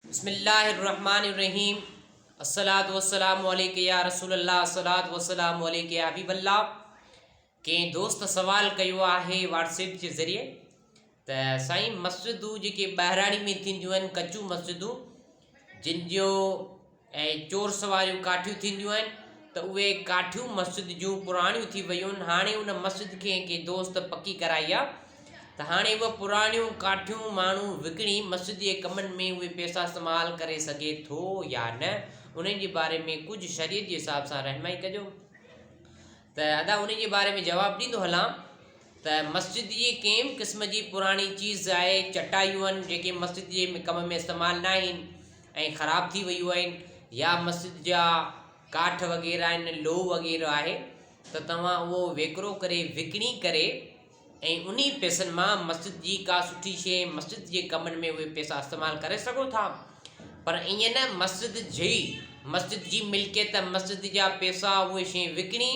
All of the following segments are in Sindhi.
بسم الله الرحمن الرحيم الصلوة والسلام عليك يا رسول الله الصلوة والسلام عليك يا حبيب الله ڪنهن دوست سوال ڪيو آهي واٽس ايپ جي ذريعي ته سائين مسجدون جيڪي ٻاهراڙي ۾ ٿينديون آهن ڪچون مسجدون جن جو ۽ چور سواريون ڪاٺيون ٿينديون آهن ته اهي ڪاٺيون مسجد جون پراڻيون ٿي ويون آهن هاڻي ان مسجد کي ڪنهن دوست پڪي ڪرائي آهي ته هاڻي هوء پراڻيون ڪاٺيون ماڻهو وڪڻي مسجد جي ڪمن ۾ اهي پيسا استعمال ڪري سگهي ٿو يا نه انهي جي باري ۾ ڪجهه شريعت جي حساب سان رهنمائي ڪجو ته ادا انهي جي باري ۾ جواب ڏيندو هلان ته مسجد جي ڪنهن به قسم جي پراڻي چيز آهي چٽايون آهن جيڪي مسجد جي ڪم ۾ استعمال نه آهن ۽ خراب ٿي ويون آهن يا مسجد جا ڪاٺ وغيره آهن لوهه وغيره آهي ته توهان اهو ويڪرو ڪري وڪڻي ڪري ۽ انهي پئسن مان مسجد جي ڪا سٺي شيء مسجد جي ڪمن ۾ اهي پئسا استعمال ڪري سگهو ٿا پر ائين نه مسجد جي مسجد جي ملڪيت مسجد جا پئسا اهي شيء وڪڻي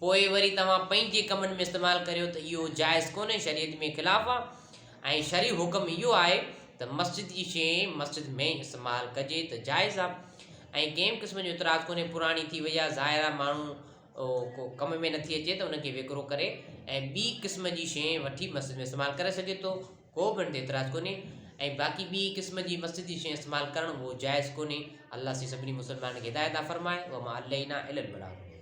پوء وري توهان پنهنجي ڪمن ۾ استعمال ڪريو ته اهو جائز ڪونهي شريعت ۾ خلاف آ ۽ شرعي حڪم اهو آهي ته مسجد جي شيء مسجد ۾ استعمال ڪجي ته جائز آ ۽ ڪنهن به قسم جو اعتراض ڪونهي پراڻي ٿي وئي آ ظاهر آ ماڻهو ڪو ڪم ۾ نٿي اچي ته ان کي وڪرو ڪري ۽ ٻي قسم جي شيء وٺي مسجد ۾ استعمال ڪري سگهي ٿو ڪو به ان تي اعتراض ڪونهي ۽ باقي ٻي قسم جي مسجد جي شيء استعمال ڪرڻ اهو جائز ڪونهي الله سي سڀني مسلمانن کي هدايت عطا فرمائي وما علينا الا البلاغ